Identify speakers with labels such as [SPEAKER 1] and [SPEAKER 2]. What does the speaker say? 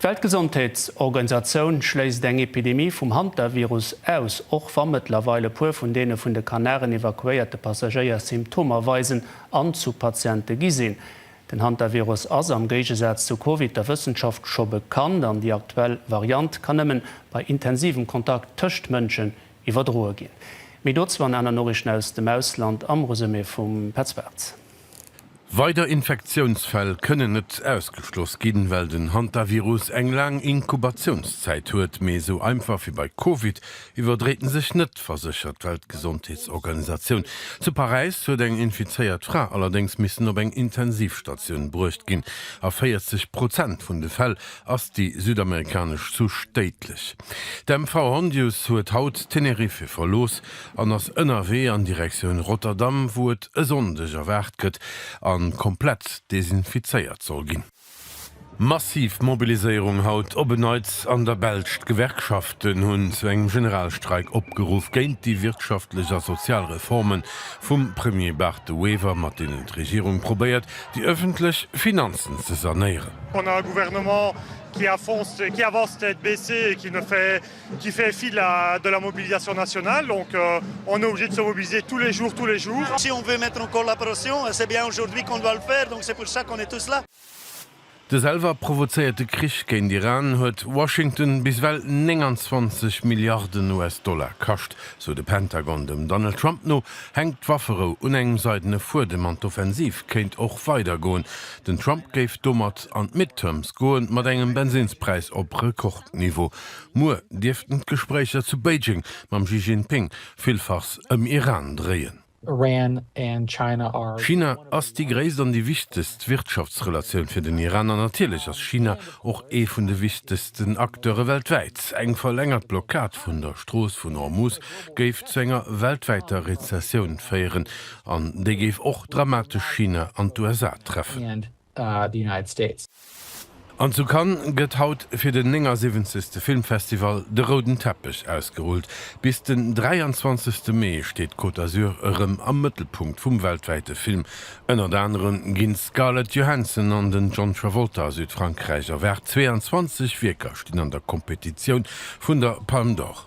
[SPEAKER 1] D'Weltgesondheetsorganisatioun schléisst eng Epidemie vum Hantavirus aus, och wa mëttlerweil e puer vun deene vun de Kanaren evakuéierte Passagéier Symptomer weisen an zu Patiente gi sinn. Den Hantavirus ass, am Géigesaz zu Covid, der Wëssenschaft scho bekannt an déi aktuell Variant kann nëmme bei intensivem Kontakt tëscht Mënschen iwwerdroe ginn. Méi dozou an aner Noriichten aus dem Ausland am Resumé vum Petz Bartz. Weider
[SPEAKER 2] Infektiounsfäll kënnen net ausgeschloss ginn, well den Hantavirus eng laang Inkubatiounszäit huet. Mee esou einfach wéi bei Covid iwwerdréit en sech net, verséchert d'Weltgesondheetsorganisatioun. Zu Paräis huet eng infizéiert Fra allerdéngs missen op eng Intensivstatioun bruecht ginn. A 40 Prozent vun de Fäll ass déi südamerikanesch Souche déidlech. D'MV Hondius huet haut Teneriffe verlooss. an ass ënnerwee an Direktioun Rotterdam, wou et e Sonndeg erwaart gëtt a komplett desinfizéiert soll ginn. Massiv Mobiliséierung haut op en Neits an der Belsch, D'Gewerkschaften hunn zu engem Generalstreik opgeruff géint déi wirtschaftlech a sozial Reforme vum Premier Bart De Wever, mat deenen d'Regierung probéiert, déi ëffentlech Finanzen ze sanéieren.
[SPEAKER 3] qui fait fi de la de la mobilisation nationale donc on est obligé de se mobiliser tous les jours tous les jours. Si on veut mettre
[SPEAKER 4] en collaboration et c'est bien aujourd'hui qu'on doit le faire donc c'est pour ça qu'on est tous là. De
[SPEAKER 2] selwer provozéierte Krich géint Iran huet Washington bis ewell 29 Milliarden US-Dollar kascht, sou de Pentagon. Dem Donald Trump no hänkt d'Wafferou un engem seidene Fuedem an d'Offensiv kéint och weider goen. Den Trump géif domat an d'Midterms goen, mat engem Bensinnspräis op Rekordniveau. Muer dierften d'Gespréicher zu Beijing mam Xi Jinping villfachs ëm Iran dréien. China ass déi gréisst an déi wichtegst Wirtschaftsrelatioun fir den Iran an natierlech ass China och ee vun de wichtegsten Acteure weltwäit. Eng verlängert Blockad vun der Strooss vun Hormuz géif zu enger weltwäiter Rezessioun féieren an déi géif och dramatesch China an d'USA treffen. An zu Cannes gëtt haut fir den 79. Filmfestival de rouden Teppech ausgerullt. Bis den 23. Mee steet d'Côte d'Azur erëm am Mëttelpunkt vum weltwäite Film. Ënnert anerem ginn d'Scarlett Johansson an den John Travolta a Südfrankräich erwaart. 22 Wierker stinn an der Kompetitioun vun der Palme d'Or.